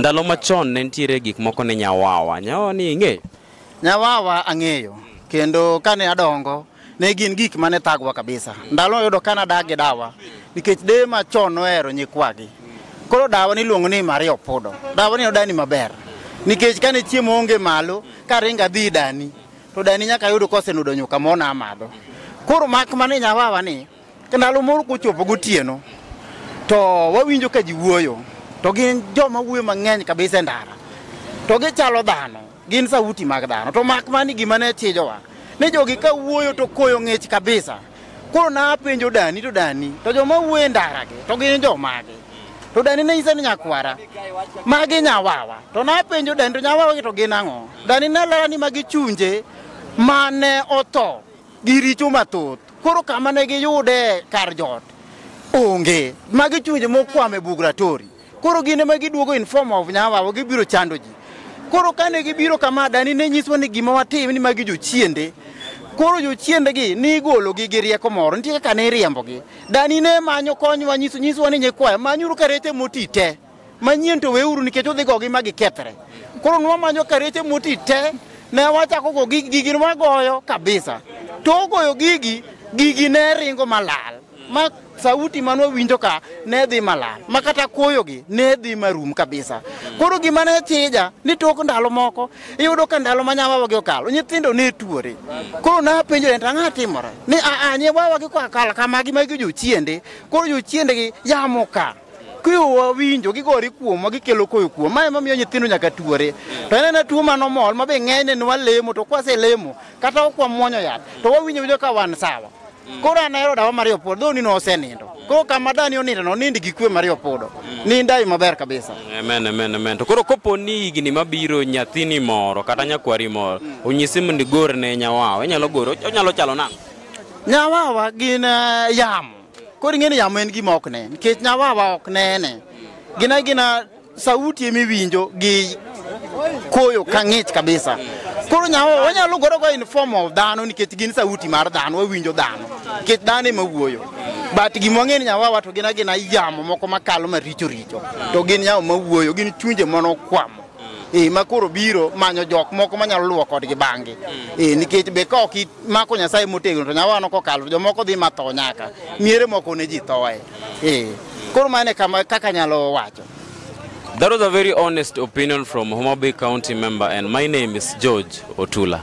Ndalo machon ne nitiere gik moko ne nyawawa. Nyawawa ni ing'eyo? Nyawawa ang'eyo kendo kane adongo ne gin gik mane thagwa kabisa. Ndalo yudo ka nadak gi dawa nikech deye machon nohero nyikwagi. Koro dawa niluongo ni Maria Opudo. Dawa ni nodani maber nikech kane chiemo onge malo karingo adhi dani to dani nyaka yudo kosenudo nyuka mona amadho. Koro mak mana ni nyawawa ni Ndalo moro kochopo gotieno to wawinjo ka ji wuoyo to gin joma wuoyo mang'eny kabisa e ndara to gichalo dhano gin sauti mag dhano to mak mani gima ne chijowa ni jogi ka wuoyo to koyo ng'ich kabisa koro napenjo dani to dani to joma wuoyo e ndaragi to gin jomagi to dani ne nyisa ni nyakwara magi nyawawa to napenjo dani to nyawawagi to gin ang'o dani ne lela ni magi chunje mane otho gi richo mathoth. Koro kama ne giyude kar jot onge. Magi chunje mokwame bug Ratori. Koro gine ma giduogo in form of nyawawa gibiro chando ji. Koro kane gibiro kama dani ne nyiswa ni gima watim ni magi jochiende. Koro jochiende gi ni igolo gi gi rieko moro. Nitie kaka ne iriembo gi. Dani ne manyo konywa nyiso nyiswa ni nyikwa manyuru karete moti te. manyien to weuru nikech udhi gogi ma gikethre koro nwamanyo kareche moti te ne wachako go gigi gigi nwagoyo kabisa to ogoyo gigi gigi ne ringo malal ma sauti ma nwawinjo ka ne dhi malal ma kata kuoyogi ne dhi marum kabisa koro gima ne chija ni tok ndalo moko iyudo ka ndalo ma nyawawagi okalo nyithindo ne tuore koro napenjore to ang'a timore ni aa nyawawagi kokalo kamagi magi jochiende koro jochiendegi yamo ka kiwa winjo gigore kuomwa gikelo koyo kuom ma ema miyo nyithindo nyaka tuore to en ena tuo mano mol ma be ng'enyne ne walemo to kwaselemo kata ok wamwonyo yath to wawinjo winjo ka wan sawa koro an ahero dawa mario podo dho nino osenindo koro kama dani onindo no nind gi kwe mario podo nindai maber kabisa Amen, amen, amen. To koro kopo ni higni mabiro nyathini moro kata nyakwari moro onyisi mondo igor ne nyawawa, inyalo goro, onyalo chalo nang'o? nyawawa gin eh, yamo Koro ing'e ni yamo en gima ok ne, nikech nyawawa ok nene. Gina gina sauti ema iwinjo gi koyo ka ng'ich kabisa. Koro nyawawa wanyalo goro go in form of dhano nikech gin sauti mar dhano, wawinjo dhano. Nikech dhano ema wuoyo. But gima wang'e ni nyawawa to gina gina yamo moko makalo maricho richo. To gin yamo mawuoyo, gin chunje manokwamo. e ma koro biro manyo jok moko manyalo luwo kodgi bang'gi e nikech be ka ok imako nyasaye motegno to nyawano kokalo to jomoko dhi matho nyaka miere moko ne ji thoe e koro mano e kama kaka anyalo wacho That was a very honest opinion from Homa Bay County member, and my name is George Otula.